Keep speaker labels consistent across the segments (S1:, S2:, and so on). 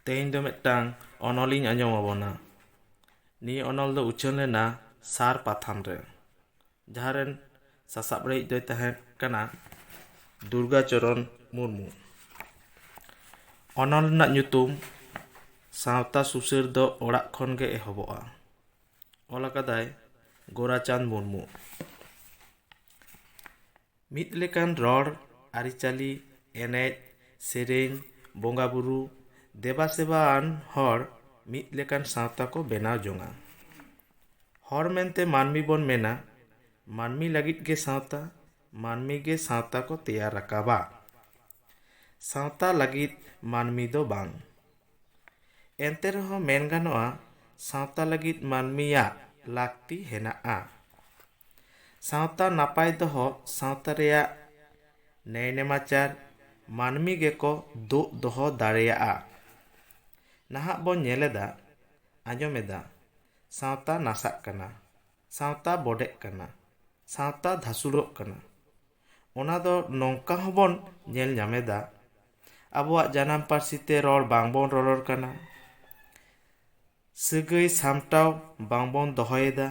S1: ᱛᱮᱦᱮᱧ ᱫᱚ ᱢᱤᱫᱴᱟᱝ ᱚᱱᱚᱞᱤᱧ ᱟᱸᱡᱚᱢ ᱟᱵᱚᱱᱟ ᱱᱤᱭᱟᱹ ᱚᱱᱚᱞ ᱫᱚ ᱩᱪᱷᱟᱹᱱ ᱞᱮᱱᱟ ᱥᱟᱨ ᱯᱟᱛᱷᱟᱢ ᱨᱮ ᱡᱟᱦᱟᱸ ᱨᱮᱱ ᱥᱟᱥᱟᱯᱲᱟᱣᱤᱡ ᱫᱚᱭ ᱛᱟᱦᱮᱸ ᱠᱟᱱᱟ ᱫᱩᱨᱜᱟᱪᱚᱨᱚᱱ ᱢᱩᱨᱢᱩ ᱚᱱᱚᱞ ᱨᱮᱱᱟᱜ ᱧᱩᱛᱩᱢ ᱥᱟᱶᱛᱟ ᱥᱩᱥᱟᱹᱨ ᱫᱚ ᱚᱲᱟᱜ ᱠᱷᱚᱱ ᱜᱮ ᱮᱦᱚᱵᱚᱜᱼᱟ ᱚᱞ ᱟᱠᱟᱫᱟᱭ ᱜᱳᱨᱟᱪᱟᱸᱫᱽ ᱢᱩᱨᱢᱩ ᱢᱤᱫ ᱞᱮᱠᱟᱱ ᱨᱚᱲ ᱟᱹᱨᱤᱪᱟᱹᱞᱤ ᱮᱱᱮᱡ ᱥᱮᱨᱮᱧ ᱵᱚᱸᱜᱟ ᱵᱩᱨᱩ ᱫᱮᱵᱟ ᱥᱮᱵᱟ ᱟᱱ ᱦᱚᱲ ᱢᱤᱫ ᱞᱮᱠᱟᱱ ᱥᱟᱶᱛᱟ ᱠᱚ ᱵᱮᱱᱟᱣ ᱡᱚᱝᱟ ᱦᱚᱲ ᱢᱮᱱᱛᱮ ᱢᱟᱹᱱᱢᱤ ᱵᱚᱱ ᱢᱮᱱᱟ ᱢᱟᱹᱱᱢᱤ ᱞᱟᱹᱜᱤᱫ ᱜᱮ ᱥᱟᱶᱛᱟ ᱢᱟᱹᱱᱢᱤ ᱜᱮ ᱥᱟᱶᱛᱟ ᱠᱚ ᱛᱮᱭᱟᱨ ᱨᱟᱠᱟᱵᱟ ᱥᱟᱶᱛᱟ ᱞᱟᱹᱜᱤᱫ ᱢᱟᱹᱱᱢᱤ ᱫᱚ ᱵᱟᱝ ᱮᱱᱛᱮ ᱨᱮᱦᱚᱸ ᱢᱮᱱ ᱜᱟᱱᱚᱜᱼᱟ ᱥᱟᱶᱛᱟ ᱞᱟᱹᱜᱤᱫ ᱢᱟᱹᱱᱢᱤᱭᱟᱜ ᱞᱟᱹᱠᱛᱤ ᱦᱮᱱᱟᱜᱼᱟ ᱥᱟᱶᱛᱟ ᱱᱟᱯᱟᱭ ᱫᱚᱦᱚ ᱥᱟᱶᱛᱟ ᱨᱮᱭᱟᱜ ᱱᱮᱭ ᱱᱮᱢᱟᱪᱟᱨ ᱢᱟᱹᱱᱢᱤ ᱜᱮᱠᱚ ᱫᱩᱜ ᱫᱚᱦᱚ ᱫᱟᱲᱮᱭᱟᱜᱼᱟ᱾ ᱱᱟᱦᱟᱜ ᱵᱚ ᱧᱮᱞᱮᱫᱟ ᱟᱸᱡᱚᱢᱮᱫᱟ ᱥᱟᱶᱛᱟ ᱱᱟᱥᱟᱜ ᱠᱟᱱᱟ, ᱥᱟᱶᱛᱟ ᱵᱚᱰᱮᱜ ᱠᱟᱱᱟ, ᱥᱟᱶᱛᱟ ᱫᱷᱟᱥᱩᱲᱚᱜ ᱠᱟᱱᱟ᱾ ᱚᱱᱟ ᱫᱚ ᱱᱚᱝᱠᱟ ᱦᱚᱸ ᱵᱚᱱ ᱧᱮᱞ ᱧᱟᱢᱮᱫᱟ ᱟᱵᱚᱣᱟᱜ ᱡᱟᱱᱟᱢ ᱯᱟᱹᱨᱥᱤ ᱛᱮ ᱨᱚᱲ ᱵᱟᱝ ᱵᱚᱱ ᱨᱚᱨᱚᱲ ᱠᱟᱱᱟ᱾ ᱥᱟᱹᱜᱟᱹᱭ ᱥᱟᱢᱴᱟᱣ ᱵᱟᱝ ᱵᱚᱱ ᱫᱚᱦᱚᱭᱮᱫᱟ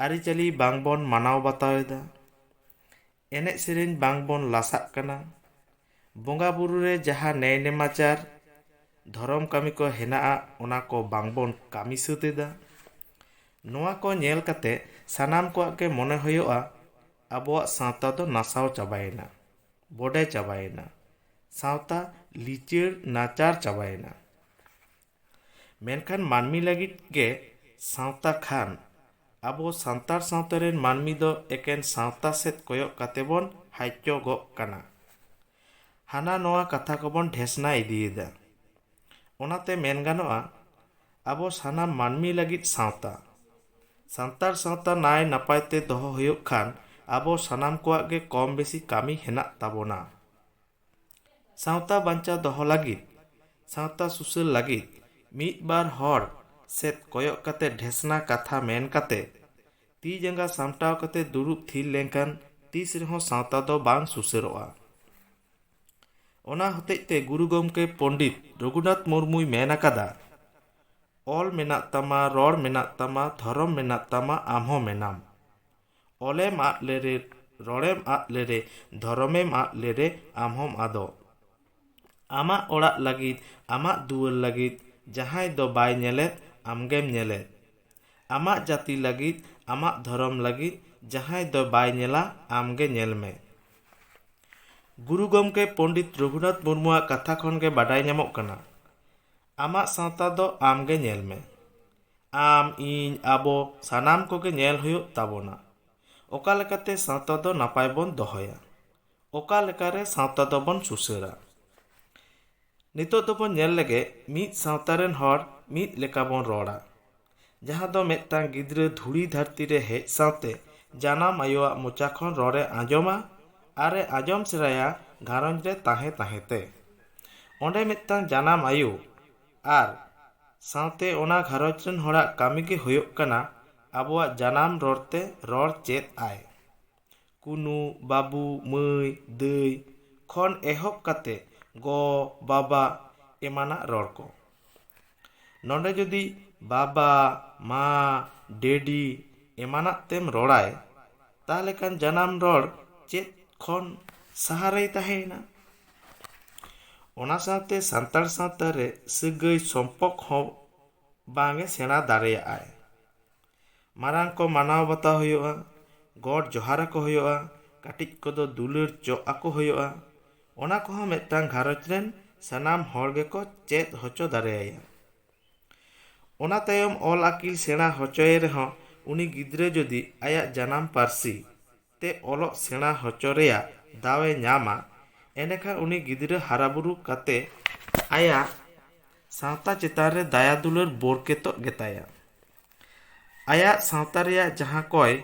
S1: ᱟᱹᱨᱤᱪᱟᱹᱞᱤ ᱵᱟᱝ ᱵᱚᱱ ᱢᱟᱱᱟᱣ ᱵᱟᱛᱟᱣᱮᱫᱟ ᱮᱱᱮᱡ ᱥᱮᱨᱮᱧ ᱵᱟᱝ ᱵᱚᱱ ᱞᱟᱥᱟᱜ ᱠᱟᱱᱟ ᱵᱚᱸᱜᱟ ᱵᱩᱨᱩ ᱨᱮ ᱡᱟᱦᱟᱸ ᱱᱮᱭ ᱱᱮᱢᱟᱪᱟᱨ ᱫᱷᱚᱨᱚᱢ ᱠᱟᱹᱢᱤ ᱠᱚ ᱦᱮᱱᱟᱜᱼᱟ ᱚᱱᱟ ᱠᱚ ᱵᱟᱝ ᱵᱚᱱ ᱠᱟᱹᱢᱤ ᱥᱟᱹᱛ ᱮᱫᱟ ᱱᱚᱣᱟ ᱠᱚ ᱧᱮᱞ ᱠᱟᱛᱮ ᱥᱟᱱᱟᱢ ᱠᱚᱣᱟᱜ ᱜᱮ ᱢᱚᱱᱮ ᱦᱩᱭᱩᱜᱼᱟ ᱟᱵᱚᱣᱟᱜ ᱥᱟᱶᱛᱟ ᱫᱚ ᱱᱟᱥᱟᱣ ᱪᱟᱵᱟᱭᱮᱱᱟ ᱵᱚᱰᱮ ᱪᱟᱵᱟᱭᱮᱱᱟ ᱥᱟᱶᱛᱟ ᱞᱤᱪᱟᱹᱲ ᱱᱟᱪᱟᱨ ᱪᱟᱵᱟᱭᱮᱱᱟ ᱢᱮᱱᱠᱷᱟᱱ ᱢᱟᱹᱱᱢᱤ ᱞᱟᱹᱜᱤᱫ ᱜᱮ ᱥᱟᱶᱛᱟ ᱠᱷᱟᱱ ᱟᱵᱚ ᱥᱟᱱᱛᱟᱲ ᱥᱟᱶᱛᱟ ᱨᱮᱱ ᱢᱟᱹᱱᱢᱤ ᱫᱚ ᱮᱠᱮᱱ ᱥᱟᱶᱛᱟ ᱥᱮᱫ ᱠᱚᱭᱚᱜ ᱠᱟᱛᱮ ᱵᱚᱱ ᱦᱟᱪᱪᱚᱜᱚᱜ ᱠᱟᱱᱟ ᱦᱟᱱᱟ ᱱᱚᱣᱟ ᱠᱟᱛᱷᱟ ᱠᱚᱵᱚᱱ ᱰᱷᱮᱥᱱᱟ ᱤᱫᱤᱭᱮᱫᱟ ᱚᱱᱟᱛᱮ ᱢᱮᱱ ᱜᱟᱱᱚᱜᱼᱟ ᱟᱵᱚ ᱥᱟᱱᱟᱢ ᱢᱟᱹᱱᱢᱤ ᱞᱟᱹᱜᱤᱫ ᱥᱟᱶᱛᱟ ᱥᱟᱱᱛᱟᱲ ᱥᱟᱶᱛᱟ ᱱᱟᱭ ᱱᱟᱯᱟᱭ ᱛᱮ ᱫᱚᱦᱚ ᱦᱩᱭᱩᱜ ᱠᱷᱟᱱ ᱟᱵᱚ ᱥᱟᱱᱟᱢ ᱠᱚᱣᱟᱜ ᱜᱮ ᱠᱚᱢ ᱵᱮᱥᱤ ᱠᱟᱹᱢᱤ ᱦᱮᱱᱟᱜ ᱛᱟᱵᱚᱱᱟ ᱥᱟᱶᱛᱟ ᱵᱟᱧᱪᱟᱣ ᱫᱚᱦᱚ ᱞᱟᱹᱜᱤᱫ ᱥᱟᱶᱛᱟ ᱥᱩᱥᱟᱹᱨ ᱞᱟᱹᱜᱤᱫ ᱢᱤᱫ ᱵᱟᱨ ᱦᱚᱲ ᱥᱮᱫ ᱠᱚᱭᱚᱜ ᱠᱟᱛᱮ ᱰᱷᱮᱥᱱᱟ ᱠᱟᱛᱷᱟ ᱢᱮᱱ ᱠᱟᱛᱮ ᱛᱤ ᱡᱟᱸᱜᱟ ᱥᱟᱢᱴᱟᱣ ᱠᱟᱛᱮ ᱫᱩᱲᱩᱵ ᱛᱷᱤᱨ ᱞᱮᱱᱠᱷᱟᱱ ᱛᱤᱥ ᱨᱮᱦᱚᱸ ᱥᱟᱶᱛᱟ ᱫᱚ ᱵᱟᱝ ᱥᱩᱥᱟᱹᱨᱚᱜᱼᱟ ᱚᱱᱟ ᱦᱚᱛᱮᱡ ᱛᱮ ᱜᱩᱨᱩ ᱜᱚᱢᱠᱮ ᱯᱚᱱᱰᱤᱛ ᱨᱚᱜᱷᱩᱱᱟᱛᱷ ᱢᱩᱨᱢᱩᱭ ᱢᱮᱱ ᱟᱠᱟᱫᱟ ᱚᱞ ᱢᱮᱱᱟᱜ ᱛᱟᱢᱟ ᱨᱚᱲ ᱢᱮᱱᱟᱜ ᱛᱟᱢᱟ ᱫᱷᱚᱨᱚᱢ ᱢᱮᱱᱟᱜ ᱛᱟᱢᱟ ᱟᱢ ᱦᱚᱸ ᱢᱮᱱᱟᱢ ᱚᱞᱮᱢ ᱟᱫ ᱞᱮᱨᱮ ᱨᱚᱲᱮᱢ ᱟᱫ ᱞᱮᱨᱮ ᱫᱷᱚᱨᱚᱢᱮᱢ ᱟᱫ ᱞᱮᱨᱮ ᱟᱢ ᱦᱚᱸᱢ ᱟᱫᱚᱜ ᱟᱢᱟᱜ ᱚᱲᱟᱜ ᱞᱟᱹᱜᱤᱫ ᱟᱢᱟᱜ ᱫᱩᱣᱟᱹᱨ ᱞᱟᱹᱜᱤᱫ ᱡᱟᱦᱟᱸᱭ ᱫᱚ ᱵᱟᱭ ᱧᱮᱞᱮᱫ ᱟᱢ ᱜᱮᱢ ᱧᱮᱞᱮᱫ ᱟᱢᱟᱜ ᱡᱟᱹᱛᱤ ᱞᱟᱹᱜᱤᱫ ᱟᱢᱟᱜ ᱫᱷᱚᱨᱚᱢ ᱞᱟᱹᱜᱤᱫ ᱡᱟᱦᱟᱸᱭ ᱫᱚ ᱵᱟᱭ ᱧᱮᱞᱟ ᱟᱢ ᱜᱮ ᱧᱮᱞ ᱢᱮ ᱜᱩᱨᱩ ᱜᱚᱢᱠᱮ ᱯᱚᱱᱰᱤᱛ ᱨᱚᱜᱷᱩᱱᱟᱛᱷ ᱢᱩᱨᱢᱩᱣᱟᱜ ᱠᱟᱛᱷᱟ ᱠᱷᱚᱱ ᱜᱮ ᱵᱟᱰᱟᱭ ᱧᱟᱢᱚᱜ ᱠᱟᱱᱟ ᱟᱢᱟᱜ ᱥᱟᱶᱛᱟ ᱫᱚ ᱟᱢ ᱜᱮ ᱧᱮᱞ ᱢᱮ ᱟᱢ, ᱤᱧ, ᱟᱵᱚ ᱥᱟᱱᱟᱢ ᱠᱚᱜᱮ ᱧᱮᱞ ᱦᱩᱭᱩᱜ ᱛᱟᱵᱚᱱᱟ ᱚᱠᱟ ᱞᱮᱠᱟᱛᱮ ᱥᱟᱶᱛᱟ ᱫᱚ ᱱᱟᱯᱟᱭ ᱵᱚᱱ ᱫᱚᱦᱚᱭᱟ᱾ ᱚᱠᱟ ᱞᱮᱠᱟᱨᱮ ᱥᱟᱶᱛᱟ ᱫᱚ ᱵᱚᱱ ᱥᱩᱥᱟᱹᱨᱟ᱾ ᱱᱤᱛᱚᱜ ᱫᱚ ᱵᱚᱱ ᱧᱮᱞ ᱞᱮᱜᱮ ᱢᱤᱫ ᱥᱟᱶᱛᱟ ᱨᱮᱱ ᱦᱚᱲ ᱢᱤᱫ ᱞᱮᱠᱟ ᱵᱚᱱ ᱨᱚᱲᱟ᱾ ᱡᱟᱦᱟᱸ ᱫᱚ ᱢᱤᱫᱴᱟᱝ ᱜᱤᱫᱽᱨᱟᱹ ᱫᱷᱩᱲᱤ ᱫᱷᱟᱹᱨᱛᱤ ᱨᱮ ᱦᱮᱡ ᱥᱟᱶᱛᱮ ᱡᱟᱱᱟᱢ ᱟᱭᱳᱣᱟᱜ ᱢᱚᱪᱟ ᱠᱷᱚᱱ ᱨᱚᱲ ᱮ ᱟᱸᱡᱚᱢᱟ ᱟᱨ ᱮ ᱟᱸᱡᱚᱢ ᱥᱮᱬᱟᱭᱟ ᱜᱷᱟᱨᱚᱸᱡᱽ ᱨᱮ ᱛᱟᱦᱮᱸ ᱛᱟᱦᱮᱸ ᱛᱮ᱾ ᱚᱸᱰᱮ ᱢᱤᱫᱴᱟᱝ ᱡᱟᱱᱟᱢ ᱟᱭᱳ᱾ ᱟᱨ ᱥᱟᱶᱛᱮ ᱚᱱᱟ ᱜᱷᱟᱨᱚᱸᱡᱽ ᱨᱮᱱ ᱦᱚᱲᱟᱜ ᱠᱟᱹᱢᱤ ᱜᱮ ᱦᱩᱭᱩᱜ ᱠᱟᱱᱟ ᱟᱵᱚᱣᱟᱜ ᱡᱟᱱᱟᱢ ᱨᱚᱲ ᱛᱮ ᱨᱚᱲ ᱪᱮᱫ ᱟᱭ ᱠᱩᱱᱩ ᱵᱟᱹᱵᱩ ᱢᱟᱹᱭ ᱫᱟᱹᱭ ᱠᱷᱚᱱ ᱮᱦᱚᱵ ᱠᱟᱛᱮ ᱜᱚ ᱵᱟᱵᱟ ᱮᱢᱟᱱᱟᱜ ᱨᱚᱲ ᱠᱚ ᱱᱚᱰᱮ ᱡᱩᱫᱤ ᱵᱟᱵᱟ ᱢᱟ ᱰᱮᱰᱤ ᱮᱢᱟᱱᱟᱜ ᱛᱮᱢ ᱨᱚᱲ ᱟᱭ ᱛᱟᱦᱚᱞᱮ ᱠᱷᱟᱱ ᱡᱟᱱᱟᱢ ᱨᱚᱲ ᱪᱮᱫ ᱠᱷᱚᱱ ᱥᱟᱦᱟ ᱨᱮᱭ ᱛᱟᱦᱮᱸᱭᱮᱱᱟ ᱚᱱᱟ ᱥᱟᱶᱛᱮ ᱥᱟᱱᱛᱟᱲ ᱥᱟᱶᱛᱟ ᱨᱮ ᱥᱟᱹᱜᱟᱹᱭ ᱥᱚᱢᱯᱚᱠ ᱦᱚᱸ ᱵᱟᱝ ᱮ ᱥᱮᱬᱟ ᱫᱟᱲᱮᱭᱟᱜᱼᱟᱭ ᱢᱟᱨᱟᱝ ᱠᱚ ᱢᱟᱱᱟᱣ ᱵᱟᱛᱟᱣ ᱦᱩᱭᱩᱜᱼᱟ ᱜᱚᱰ ᱡᱚᱦᱟᱨ ᱟᱠᱚ ᱦᱩᱭᱩᱜᱼᱟ ᱠᱟᱹᱴᱤᱡ ᱠᱚᱫᱚ ᱫᱩᱞᱟᱹᱲ ᱪᱚᱜ ᱟᱠᱚ ᱦᱩᱭᱩᱜᱼᱟ ᱚᱱᱟ ᱠᱚᱦᱚᱸ ᱢᱤᱫᱴᱟᱝ ᱜᱷᱟᱨᱚᱸᱡᱽ ᱨᱮᱱ ᱥᱟᱱᱟᱢ ᱦᱚᱲ ᱜᱮᱠᱚ ᱪᱮᱫ ᱦᱚᱪᱚ ᱫᱟᱲᱮᱭᱟᱭᱟ ᱚᱱᱟ ᱛᱟᱭᱚᱢ ᱚᱞ ᱟᱹᱠᱤᱞ ᱥᱮᱬᱟ ᱦᱚᱪᱚᱭᱮ ᱨᱮᱦᱚᱸ ᱩᱱᱤ ᱜᱤᱫᱽᱨᱟᱹ ᱡᱩᱫᱤ ᱟᱭᱟᱜ ᱡᱟᱱᱟᱢ ᱯᱟᱹᱨᱥᱤ ᱛᱮ ᱚᱞᱚᱜ ᱥᱮᱬᱟ ᱦᱚᱪᱚ ᱨᱮᱭᱟᱜ ᱫᱟᱣ ᱮ ᱧᱟᱢᱟ ᱮᱸᱰᱮᱠᱷᱟᱱ ᱩᱱᱤ ᱜᱤᱫᱽᱨᱟᱹ ᱦᱟᱨᱟ ᱵᱩᱨᱩ ᱠᱟᱛᱮ ᱟᱭᱟᱜ ᱥᱟᱶᱛᱟ ᱪᱮᱛᱟᱱ ᱨᱮ ᱫᱟᱭᱟ ᱫᱩᱞᱟᱹᱲ ᱵᱳᱨᱠᱮᱛᱚᱜ ᱜᱮᱛᱟᱭᱟ᱾ ᱟᱭᱟᱜ ᱥᱟᱶᱛᱟ ᱨᱮᱭᱟᱜ ᱡᱟᱦᱟᱸ ᱠᱚᱭ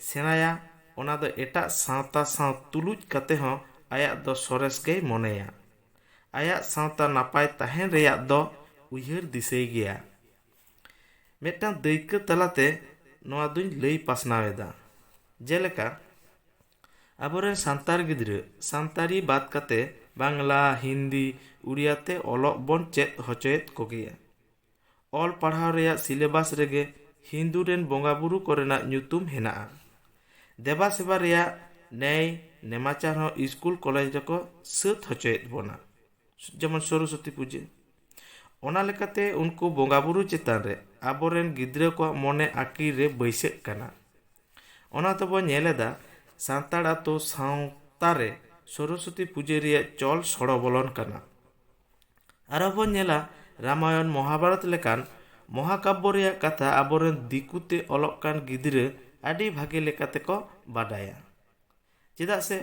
S1: ᱥᱮᱬᱟᱭᱟ ᱚᱱᱟ ᱫᱚ ᱮᱴᱟᱜ ᱥᱟᱶᱛᱟ ᱥᱟᱶ ᱛᱩᱞᱩᱡ ᱠᱟᱛᱮ ᱦᱚᱸ ᱟᱭᱟᱜ ᱫᱚ ᱥᱚᱨᱮᱥ ᱜᱮᱭ ᱢᱚᱱᱮᱭᱟ᱾ ᱟᱭᱟᱜ ᱥᱟᱶᱛᱟ ᱱᱟᱯᱟᱭ ᱛᱟᱦᱮᱸᱱ ᱨᱮᱭᱟᱜ ᱫᱚ ᱩᱭᱦᱟᱹᱨ ᱫᱤᱥᱟᱹᱭ ᱜᱮᱭᱟ᱾ ᱢᱤᱫᱴᱟᱝ ᱫᱟᱹᱭᱠᱟᱹ ᱛᱟᱞᱟᱛᱮ ᱱᱚᱣᱟ ᱫᱩᱧ ᱞᱟᱹᱭ ᱯᱟᱥᱱᱟᱣ ᱮᱫᱟ ᱡᱮᱞᱮᱠᱟ ᱟᱵᱚᱨᱮᱱ ᱥᱟᱱᱛᱟᱲ ᱜᱤᱫᱽᱨᱟᱹ ᱥᱟᱱᱛᱟᱲᱤ ᱵᱟᱫ ᱠᱟᱛᱮ ᱵᱟᱝᱞᱟ ᱦᱤᱱᱫᱤ ᱩᱲᱤᱭᱟ ᱛᱮ ᱚᱞᱚᱜ ᱵᱚᱱ ᱪᱮᱫ ᱦᱚᱪᱚᱭᱮᱫ ᱠᱚᱜᱮᱭᱟ ᱚᱞ ᱯᱟᱲᱦᱟᱣ ᱨᱮᱭᱟᱜ ᱥᱤᱞᱮᱵᱟᱥ ᱨᱮᱜᱮ ᱦᱤᱱᱫᱩ ᱨᱮᱱ ᱵᱚᱸᱜᱟ ᱵᱩᱨᱩ ᱠᱚᱨᱮᱱᱟᱜ ᱧᱩᱛᱩᱢ ᱦᱮᱱᱟᱜᱼᱟ ᱫᱮᱵᱟ ᱥᱮᱵᱟ ᱨᱮᱭᱟᱜ ᱱᱮᱭ ᱱᱮᱢᱟᱪᱟᱨ ᱦᱚᱸ ᱤᱥᱠᱩᱞ ᱠᱚᱞᱮᱡᱽ ᱨᱮᱠᱚ ᱥᱟᱹᱛ ᱦᱚᱪᱚᱭᱮᱫ ᱵᱚᱱᱟ ᱡᱮᱢᱚᱱ ᱥᱚᱨᱚᱥᱚᱛᱤ ᱯᱩᱡᱟᱹ ᱚᱱᱟ ᱞᱮᱠᱟᱛᱮ ᱩᱱᱠᱩ ᱵᱚᱸᱜᱟ ᱵᱩᱨᱩ ᱪᱮᱛᱟᱱ ᱨᱮ ᱟᱵᱚᱨᱮᱱ ᱜᱤᱫᱽᱨᱟᱹ ᱠᱚᱣᱟᱜ ᱢᱚᱱᱮ ᱟᱹᱠᱤᱞ ᱨᱮ ᱵᱟᱹᱭᱥᱟᱹᱜ ᱠᱟᱱᱟ ᱚᱱᱟ ᱛᱮᱵᱚ ᱧᱮᱞ ᱮᱫᱟ ᱥᱟᱱᱛᱟᱲ ᱟᱛᱳ ᱥᱟᱶᱛᱟ ᱨᱮ ᱥᱚᱨᱚᱥᱚᱛᱤ ᱯᱩᱡᱟᱹ ᱨᱮᱭᱟᱜ ᱪᱚᱞ ᱥᱚᱲᱚ ᱵᱚᱞᱚᱱ ᱠᱟᱱᱟ ᱟᱨᱚ ᱵᱚᱱ ᱧᱮᱞᱟ ᱨᱟᱢᱟᱭᱚᱱ ᱢᱚᱦᱟᱵᱟᱨᱚᱛ ᱞᱮᱠᱟᱱ ᱢᱚᱦᱟᱠᱟᱵᱵᱚ ᱨᱮᱭᱟᱜ ᱠᱟᱛᱷᱟ ᱟᱵᱚᱨᱮᱱ ᱫᱤᱠᱩᱛᱮ ᱚᱞᱚᱜ ᱠᱟᱱ ᱜᱤᱫᱽᱨᱟᱹ ᱟᱹᱰᱤ ᱵᱷᱟᱜᱮ ᱞᱮᱠᱟᱛᱮᱠᱚ ᱵᱟᱰᱟᱭᱟ ᱪᱮᱫᱟᱜ ᱥᱮ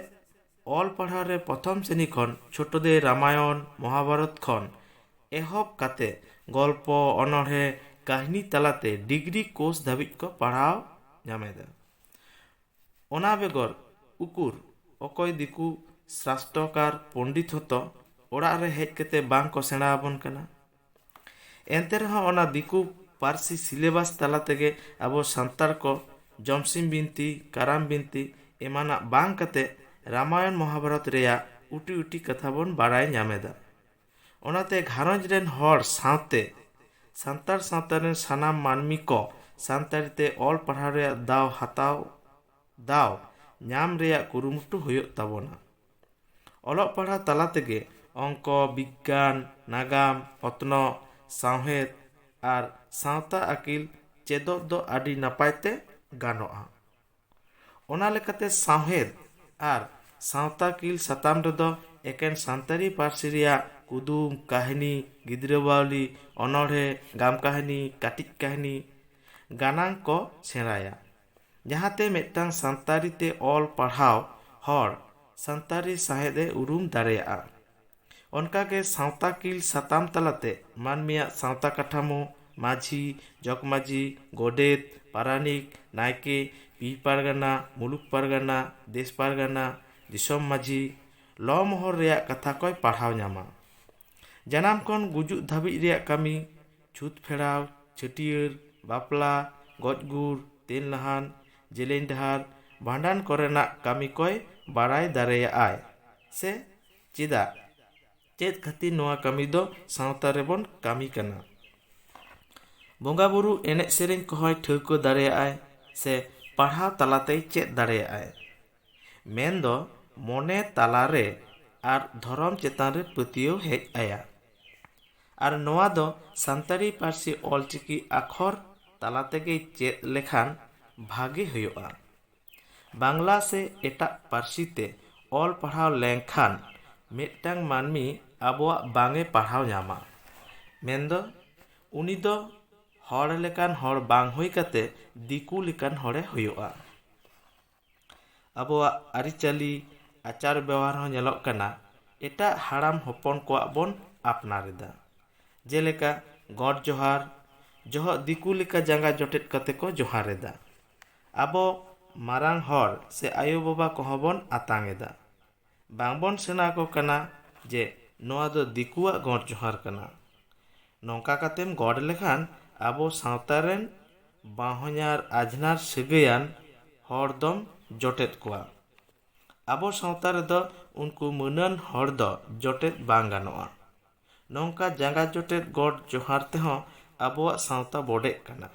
S1: ᱚᱞ ᱯᱟᱲᱦᱟᱣ ᱨᱮ ᱯᱨᱚᱛᱷᱚᱢ ᱥᱨᱮᱱᱤ ᱠᱷᱚᱱ ᱪᱷᱳᱴᱳᱫᱮ ᱨᱟᱢᱟᱭᱚᱱ ᱢᱚᱦᱟᱵᱷᱟᱨᱚᱛ ᱠᱷᱚᱱ ᱮᱦᱚᱵ ᱠᱟᱛᱮ ᱜᱚᱞᱯᱚ ᱚᱱᱚᱬᱦᱮ ᱠᱟᱹᱦᱱᱤ ᱛᱟᱞᱟᱛᱮ ᱰᱤᱜᱽᱨᱤ ᱠᱳᱨᱥ ᱫᱷᱟᱹᱵᱤᱡ ᱠᱚ ᱯᱟᱲᱦᱟᱣ ᱧᱟᱢᱮᱫᱟ ᱚᱱᱟ ᱵᱮᱜᱚᱨ ᱩᱠᱩᱨ ᱚᱠᱚᱭ ᱫᱤᱠᱩ ᱥᱟᱥᱴᱨᱚᱠᱟᱨ ᱯᱚᱱᱰᱤᱛ ᱦᱚᱸᱛᱚ ᱚᱲᱟᱜ ᱨᱮ ᱦᱮᱡ ᱠᱟᱛᱮ ᱵᱟᱝᱠᱚ ᱥᱮᱬᱟ ᱟᱵᱚᱱ ᱠᱟᱱᱟ ᱮᱱᱛᱮ ᱨᱮᱦᱚᱸ ᱚᱱᱟ ᱫᱤᱠᱩ ᱯᱟᱹᱨᱥᱤ ᱥᱤᱞᱮᱵᱟᱥ ᱛᱟᱞᱟ ᱛᱮᱜᱮ ᱟᱵᱚ ᱥᱟᱱᱛᱟᱲ ᱠᱚ ᱡᱚᱢᱥᱤᱢ ᱵᱤᱱᱛᱤ ᱠᱟᱨᱟᱢ ᱵᱤᱱᱛᱤ ᱮᱢᱟᱱᱟᱜ ᱵᱟᱝ ᱠᱟᱛᱮ ᱨᱟᱢᱟᱭᱚᱱ ᱢᱚᱦᱟᱵᱷᱟᱨᱚᱛ ᱨᱮᱭᱟᱜ ᱩᱴᱤ ᱩᱴᱤ ᱠᱟᱛᱷᱟ ᱵᱚᱱ ᱵᱟᱲᱟᱭ ᱧᱟᱢᱮᱫᱟ ᱚᱱᱟᱛᱮ ᱜᱷᱟᱨᱚᱸᱡᱽ ᱨᱮᱱ ᱦᱚᱲ ᱥᱟᱶᱛᱮ ᱥᱟᱱᱛᱟᱲ ᱥᱟᱶᱛᱟ ᱨᱮᱱ ᱥᱟᱱᱟᱢ ᱢᱟᱹᱱᱢᱤ ᱠᱚ ᱥᱟᱱᱛᱟᱲᱤ ᱛᱮ ᱚᱞ ᱯᱟᱲᱦᱟᱣ ᱨᱮᱭᱟᱜ ᱫᱟᱣ ᱦᱟᱛᱟᱣ ᱫᱟᱣ ᱧᱟᱢ ᱨᱮᱭᱟᱜ ᱠᱩᱨᱩᱢᱩᱴᱩ ᱦᱩᱭᱩᱜ ᱛᱟᱵᱚᱱᱟ ᱚᱞᱚᱜ ᱯᱟᱲᱦᱟᱣ ᱛᱟᱞᱟ ᱛᱮᱜᱮ ᱚᱝᱠᱚ ᱵᱤᱜᱽᱜᱟᱱ ᱱᱟᱜᱟᱢ ᱚᱛᱱᱚᱜ ᱥᱟᱶᱦᱮᱫ ᱟᱨ ᱥᱟᱶᱛᱟ ᱟᱹᱠᱤᱞ ᱪᱮᱫᱚᱜ ᱫᱚ ᱟᱹᱰᱤ ᱱᱟᱯᱟᱭ ᱛᱮ ᱜᱟᱱᱚᱜᱼᱟ ᱚᱱᱟ ᱞᱮᱠᱟᱛᱮ ᱥᱟᱶᱦᱮᱫ ᱟᱨ ᱥᱟᱶᱛᱟ ᱟᱹᱠᱤᱞ ᱥᱟᱛᱟᱢ ᱨᱮᱫᱚ ᱮᱠᱮᱱ ᱥᱟᱱᱛᱟᱲᱤ ᱯᱟᱹᱨᱥᱤ ᱨᱮᱭᱟᱜ ᱠᱩᱫᱩᱢ ᱠᱟᱹᱦᱱᱤ ᱜᱤᱫᱽᱨᱟᱹ ᱵᱟᱹᱣᱞᱤ ᱚᱱᱚᱬᱦᱮ ᱜᱟᱢ ᱠᱟᱹᱦᱱᱤ ᱠᱟᱹᱴᱤᱡ ᱠᱟᱹᱦᱱᱤ ᱜᱟᱱᱟᱝ ᱠᱚ ᱥᱮᱬᱟᱭᱟ ᱡᱟᱦᱟᱸᱛᱮ ᱢᱤᱫᱴᱟᱝ ᱥᱟᱱᱛᱟᱲᱤ ᱛᱮ ᱚᱞ ᱯᱟᱲᱦᱟᱣ ᱦᱚᱲ ᱥᱟᱱᱛᱟᱲᱤ ᱥᱟᱶᱦᱮᱫ ᱮ ᱩᱨᱩᱢ ᱫᱟᱲᱮᱭᱟᱜᱼᱟ᱾ ᱚᱱᱠᱟ ᱜᱮ ᱥᱟᱶᱛᱟᱠᱤᱞ ᱥᱟᱛᱟᱢ ᱛᱟᱞᱟᱛᱮ ᱢᱟᱹᱱᱢᱤᱭᱟᱜ ᱥᱟᱶᱛᱟ ᱠᱟᱴᱷᱟᱢᱳ, ᱢᱟᱹᱡᱷᱤ, ᱡᱚᱜᱽᱢᱟᱹᱡᱷᱤ, ᱜᱚᱰᱮᱛ, ᱯᱟᱨᱟᱱᱤᱠ, ᱱᱟᱭᱠᱮ, ᱯᱤᱲ ᱯᱟᱨᱜᱟᱱᱟ, ᱢᱩᱞᱩᱠ ᱯᱟᱨᱜᱟᱱᱟ, ᱫᱮᱥ ᱯᱟᱨᱜᱟᱱᱟ, ᱫᱤᱥᱚᱢ ᱢᱟᱹᱡᱷᱤ, ᱞᱚ ᱢᱚᱦᱚᱞ ᱨᱮᱭᱟᱜ ᱠᱟᱛᱷᱟ ᱠᱚᱭ ᱯᱟᱲᱦᱟᱣ ᱧᱟᱢᱟ᱾ ᱡᱟᱱᱟᱢ ᱠᱷᱚᱱ ᱜᱩᱡᱩᱜ ᱫᱷᱟᱹᱵᱤᱡ ᱨᱮᱭᱟᱜ ᱠᱟᱹᱢᱤ᱾ ᱪᱷᱩᱛ ᱯᱷᱮᱲᱟᱣ ᱪᱷᱟᱹᱴᱭᱟᱹᱨ ᱵᱟᱯᱞᱟ ᱜᱚᱡ ᱜᱩᱨ ᱛᱮᱞ ᱱᱟᱦᱟᱱ ᱡᱮᱞᱮᱧ ᱰᱟᱦᱟᱨ ᱵᱷᱟᱸᱰᱟᱱ ᱠᱚᱨᱮᱱᱟᱜ ᱠᱟᱹᱢᱤ ᱠᱚᱭ ᱵᱟᱲᱟᱭ ᱫᱟᱲᱮᱭᱟᱜᱼᱟᱭ ᱥᱮ ᱪᱮᱫᱟᱜ ᱪᱮᱫ ᱠᱷᱟᱹᱛᱤᱨ ᱱᱚᱣᱟ ᱠᱟᱹᱢᱤ ᱫᱚ ᱥᱟᱶᱛᱟ ᱨᱮᱵᱚᱱ ᱠᱟᱹᱢᱤ ᱠᱟᱱᱟ ᱵᱚᱸᱜᱟ ᱵᱳᱨᱳ ᱮᱱᱮᱡ ᱥᱮᱨᱮᱧ ᱠᱚᱦᱚᱸᱭ ᱴᱷᱟᱹᱣᱠᱟᱹ ᱫᱟᱲᱮᱭᱟᱜᱼᱟᱭ ᱥᱮ ᱯᱟᱲᱦᱟᱣ ᱛᱟᱞᱟᱛᱮᱭ ᱪᱮᱫ ᱫᱟᱲᱮᱭᱟᱜᱼᱟᱭ ᱢᱮᱱᱫᱚ ᱢᱚᱱᱮ ᱛᱟᱞᱟᱨᱮ ᱟᱨ ᱫᱷᱚᱨᱚᱢ ᱪᱮᱛᱟᱱ ᱨᱮ ᱯᱟᱹᱛᱭᱟᱹᱣ ᱦᱮᱡ ᱟᱭᱟ ᱟᱨ ᱱᱚᱣᱟ ᱫᱚ ᱥᱟᱱᱛᱟᱲᱤ ᱯᱟᱹᱨᱥᱤ ᱚᱞᱪᱤᱠᱤ ᱟᱠᱷᱚᱨ ᱛᱟᱞᱟ ᱛᱮᱜᱮᱭ ᱪᱮᱫ ᱞᱮᱠᱷᱟᱱ ᱵᱷᱟᱜᱮ ᱦᱩᱭᱩᱜᱼᱟ ᱵᱟᱝᱞᱟ ᱥᱮ ᱮᱴᱟᱜ ᱯᱟᱹᱨᱥᱤ ᱛᱮ ᱚᱞ ᱯᱟᱲᱦᱟᱣ ᱞᱮᱱᱠᱷᱟᱱ ᱢᱤᱫᱴᱟᱝ ᱢᱟᱹᱱᱢᱤ ᱟᱵᱚᱣᱟᱜ ᱵᱟᱝ ᱮ ᱯᱟᱲᱦᱟᱣ ᱧᱟᱢᱟ ᱢᱮᱱᱫᱚ ᱩᱱᱤ ᱫᱚ ᱦᱚᱲ ᱞᱮᱠᱟᱱ ᱦᱚᱲ ᱵᱟᱝ ᱦᱩᱭ ᱠᱟᱛᱮ ᱫᱤᱠᱩ ᱞᱮᱠᱟᱱ ᱦᱚᱲᱮ ᱦᱩᱭᱩᱜᱼᱟ ᱟᱵᱚᱣᱟᱜ ᱟᱹᱨᱤᱪᱟᱹᱞᱤ ᱟᱪᱟᱨ ᱵᱮᱣᱦᱟᱨ ᱦᱚᱸ ᱧᱮᱞᱚᱜ ᱠᱟᱱᱟ ᱮᱴᱟᱜ ᱦᱟᱲᱟᱢ ᱦᱚᱯᱚᱱ ᱠᱚᱣᱟᱜ ᱵᱚᱱ ᱟᱯᱱᱟᱨ ᱮᱫᱟ ᱡᱮᱞᱮᱠᱟ ᱜᱚᱰ ᱡᱚᱦᱟᱨ ᱡᱚᱦᱚᱜ ᱫᱤᱠᱩ ᱞᱮᱠᱟ ᱡᱟᱸᱜᱟ ᱡᱚᱴᱮᱫ ᱠᱟᱛᱮ ᱠᱚ ᱡᱚᱦᱟᱨ ᱮᱫᱟ ᱟᱵᱚ ᱢᱟᱨᱟᱝ ᱦᱚᱲ ᱥᱮ ᱟᱭᱳ ᱵᱟᱵᱟ ᱠᱚᱦᱚᱸ ᱵᱚᱱ ᱟᱛᱟᱝ ᱮᱫᱟ ᱵᱟᱝᱵᱚᱱ ᱥᱮᱬᱟ ᱟᱠᱚ ᱠᱟᱱᱟ ᱡᱮ ᱱᱚᱣᱟ ᱫᱚ ᱫᱤᱠᱩᱣᱟᱜ ᱜᱚᱰ ᱡᱚᱦᱟᱨ ᱠᱟᱱᱟ ᱱᱚᱝᱠᱟ ᱠᱟᱛᱮᱢ ᱜᱚᱰ ᱞᱮᱠᱷᱟᱱ ᱟᱵᱚ ᱥᱟᱶᱛᱟ ᱨᱮᱱ ᱵᱟᱦᱚᱧᱟᱨ ᱟᱡᱷᱱᱟᱨ ᱥᱟᱹᱜᱟᱹᱭᱟᱱ ᱦᱚᱲ ᱫᱚᱢ ᱡᱚᱴᱮᱫ ᱠᱚᱣᱟ ᱟᱵᱚ ᱥᱟᱶᱛᱟ ᱨᱮᱫᱚ ᱩᱱᱠᱩ ᱢᱟᱹᱱᱟᱱ ᱦᱚᱲ ᱫᱚ ᱡᱚᱴᱮᱫ ᱵᱟᱝ ᱜᱟᱱᱚᱜᱼᱟ ᱱᱚᱝᱠᱟ ᱡᱟᱸᱜᱟ ᱡᱚᱴᱮᱫ ᱜᱚᱰ ᱡᱚᱦᱟᱨ ᱛᱮᱦᱚᱸ ᱟᱵᱚᱣᱟᱜ ᱥᱟᱶᱛᱟ ᱵᱚᱰᱮᱜ ᱠᱟᱱᱟ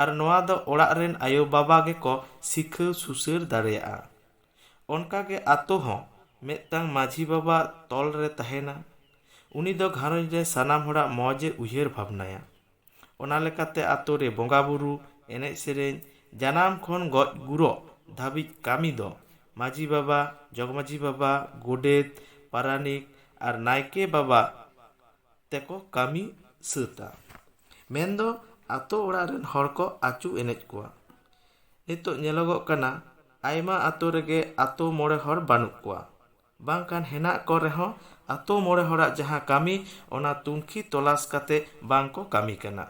S1: ᱟᱨ ᱱᱚᱣᱟ ᱫᱚ ᱚᱲᱟᱜ ᱨᱮᱱ ᱟᱭᱳ ᱵᱟᱵᱟ ᱜᱮᱠᱚ ᱥᱤᱠᱷᱟᱹᱣ ᱥᱩᱥᱟᱹᱨ ᱫᱟᱲᱮᱭᱟᱜᱼᱟ ᱚᱱᱠᱟ ᱜᱮ ᱟᱛᱳ ᱦᱚᱸ ᱢᱤᱫᱴᱟᱝ ᱢᱟᱺᱡᱷᱤ ᱵᱟᱵᱟ ᱛᱚᱞ ᱨᱮ ᱛᱟᱦᱮᱸᱱᱟ᱾ ᱩᱱᱤ ᱫᱚ ᱜᱷᱟᱨᱚᱸᱡᱽ ᱨᱮ ᱥᱟᱱᱟᱢ ᱦᱚᱲᱟᱜ ᱢᱚᱡᱽ ᱮ ᱩᱭᱦᱟᱹᱨ ᱵᱷᱟᱵᱽᱱᱟᱭᱟ᱾ ᱚᱱᱟ ᱞᱮᱠᱟᱛᱮ ᱟᱛᱳ ᱨᱮ ᱵᱚᱸᱜᱟ ᱵᱩᱨᱩ, ᱮᱱᱮᱡ ᱥᱮᱨᱮᱧ, ᱡᱟᱱᱟᱢ ᱠᱷᱚᱱ ᱜᱚᱡ ᱜᱩᱨᱚᱜ ᱫᱷᱟᱹᱵᱤᱡ ᱠᱟᱹᱢᱤ ᱫᱚ ᱢᱟᱺᱡᱷᱤ ᱵᱟᱵᱟ, ᱡᱚᱜᱽᱢᱟᱺᱡᱷᱤ ᱵᱟᱵᱟ, ᱜᱳᱰᱮᱛ, ᱯᱟᱨᱟᱱᱤᱠ ᱟᱨ ᱱᱟᱭᱠᱮ ᱵᱟᱵᱟ ᱛᱮᱠᱚ ᱠᱟᱹᱢᱤ ᱥᱟᱹᱛᱟ᱾ ᱢᱮᱱ ᱫᱚ ᱟᱛᱳ ᱚᱲᱟᱜ ᱨᱮᱱ ᱦᱚᱲ ᱠᱚ ᱟᱹᱪᱩ ᱮᱱᱮᱡ ᱠᱚᱣᱟ᱾ ᱱᱤᱛᱚᱜ ᱧᱮᱞᱚᱜᱚᱜ ᱠᱟᱱᱟ ᱟᱭᱢᱟ ᱟᱛᱳ ᱨᱮᱜᱮ ᱟᱛᱳ ᱢᱚᱬᱮ ᱦᱚᱲ ᱵᱟᱹᱱᱩᱜ ᱠᱚᱣᱟ ᱵᱟᱝᱠᱷᱟᱱ ᱦᱮᱱᱟᱜ ᱠᱚ ᱨᱮᱦᱚᱸ ᱟᱛᱳ ᱢᱚᱬᱮ ᱦᱚᱲᱟᱜ ᱡᱟᱦᱟᱸ ᱠᱟᱹᱢᱤ ᱚᱱᱟ ᱛᱩᱱᱠᱷᱤ ᱛᱚᱞᱟᱥ ᱠᱟᱛᱮ ᱵᱟᱝ ᱠᱚ ᱠᱟᱹᱢᱤ ᱠᱟᱱᱟ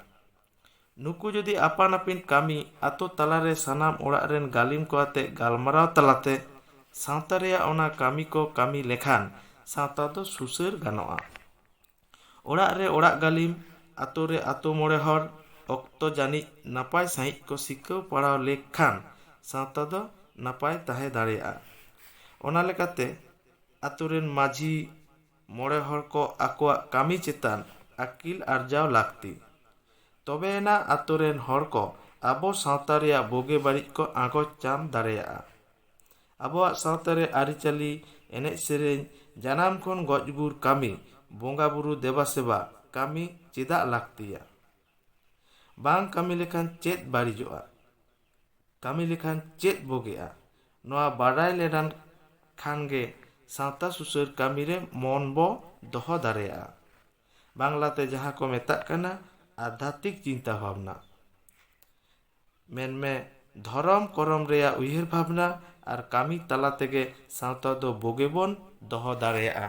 S1: ᱱᱩᱠᱩ ᱡᱩᱫᱤ ᱟᱯᱟᱱ ᱟᱹᱯᱤᱱ ᱠᱟᱹᱢᱤ ᱟᱛᱳ ᱛᱟᱞᱟ ᱨᱮ ᱥᱟᱱᱟᱢ ᱚᱲᱟᱜ ᱨᱮᱱ ᱜᱟᱹᱞᱤᱢ ᱠᱚ ᱟᱛᱮ ᱜᱟᱞᱢᱟᱨᱟᱣ ᱛᱟᱞᱟᱛᱮ ᱥᱟᱶᱛᱟ ᱨᱮᱭᱟᱜ ᱚᱱᱟ ᱠᱟᱹᱢᱤ ᱠᱚ ᱠᱟᱹᱢᱤ ᱞᱮᱠᱷᱟᱱ ᱥᱟᱶᱛᱟ ᱫᱚ ᱥᱩᱥᱟᱹᱨ ᱜᱟᱱᱚᱜᱼᱟ ᱚᱲᱟᱜ ᱨᱮ ᱚᱲᱟᱜ ᱜᱟᱹᱞᱤᱢ, ᱟᱛᱳ ᱨᱮ ᱟᱛᱳ ᱢᱚᱬᱮ ᱦᱚᱲ ᱚᱠᱛᱚ ᱡᱟᱹᱱᱤᱡ ᱱᱟᱯᱟᱭ ᱥᱟᱺᱦᱤᱡ ᱠᱚ ᱥᱤᱠᱟᱹᱣ ᱯᱟᱲᱟᱣ ᱞᱮᱠ ᱠᱷᱟᱱ ᱥᱟᱶᱛᱟ ᱫᱚ ᱱᱟᱯᱟᱭ ᱛᱟᱦᱮᱸ ᱫᱟᱲᱮᱭᱟᱜᱼᱟ᱾ ᱚᱱᱟ ᱞᱮᱠᱟᱛᱮ ᱟᱛᱳ ᱨᱮᱱ ᱢᱟᱹᱡᱷᱤ, ᱢᱚᱬᱮ ᱦᱚᱲ ᱠᱚ ᱟᱠᱚᱣᱟᱜ ᱠᱟᱹᱢᱤ ᱪᱮᱛᱟᱱ ᱟᱹᱠᱤᱞ ᱟᱨᱡᱟᱣ ᱞᱟᱹᱠᱛᱤ᱾ ᱛᱚᱵᱮ ᱮᱱᱟ ᱟᱛᱳ ᱨᱮᱱ ᱦᱚᱲ ᱠᱚ ᱟᱵᱚ ᱥᱟᱶᱛᱟ ᱨᱮᱭᱟᱜ ᱵᱳᱜᱮ ᱵᱟᱹᱲᱤᱡ ᱠᱚ ᱟᱸᱜᱚᱪ ᱧᱟᱢ ᱫᱟᱲᱮᱭᱟᱜᱼᱟ᱾ ᱟᱵᱚᱣᱟᱜ ᱥᱟᱶᱛᱟ ᱨᱮ ᱟᱹᱨᱤᱪᱟᱹᱞᱤ, ᱮᱱᱮᱡ ᱥᱮᱨᱮᱧ, ᱡᱟᱱᱟᱢ ᱠᱷᱚᱱ ᱜᱚᱡ ᱜᱩᱨ ᱠᱟᱹᱢᱤ, ᱵᱚᱸᱜᱟ ᱵᱩᱨᱩ ᱫᱮᱵᱟ ᱥᱮᱵᱟ ᱠᱟᱹᱢᱤ ᱪᱮᱫᱟᱜ ᱞᱟᱹᱠᱛᱤᱭᱟ? ᱵᱟᱝ ᱠᱟᱹᱢᱤ ᱞᱮᱠᱷᱟᱱ ᱪᱮᱫ ᱵᱟᱹᱲᱤᱡᱚᱜᱼᱟ? ᱠᱟᱹᱢᱤ ᱞᱮᱠᱷᱟᱱ ᱪᱮᱫ ᱵᱚᱜᱮᱜᱼᱟ? ᱱᱚᱣᱟ ᱵᱟᱰᱟᱭ ᱞᱮᱰᱟᱱ ᱠᱷᱟᱱ ᱜᱮ ᱥᱟᱶᱛᱟ ᱥᱩᱥᱟᱹᱨ ᱠᱟᱹᱢᱤ ᱨᱮ ᱢᱚᱱ ᱵᱚ ᱫᱚᱦᱚ ᱫᱟᱲᱮᱭᱟᱜᱼᱟ᱾ ᱵᱟᱝᱞᱟ ᱛᱮ ᱡᱟᱦᱟᱸ ᱠᱚ ᱢᱮᱛᱟᱜ ᱠᱟᱱᱟ ᱟᱫᱷᱭᱟᱛᱢᱤᱠ ᱪᱤᱱᱛᱟ ᱵᱷᱟᱵᱽᱱᱟ᱾ ᱢᱮᱱᱢᱮ ᱫᱷᱚᱨᱚᱢ ᱠᱚᱨᱚᱢ ᱨᱮᱭᱟᱜ ᱩᱭᱦᱟᱹᱨ ᱵᱷᱟᱵᱽᱱᱟ ᱟᱨ ᱠᱟᱹᱢᱤ ᱛᱟᱞᱟ ᱛᱮᱜᱮ ᱥᱟᱶᱛᱟ ᱫᱚ ᱵᱳᱜᱮ ᱵᱚᱱ ᱫᱚᱦᱚ ᱫᱟᱲᱮᱭᱟᱜᱼᱟ᱾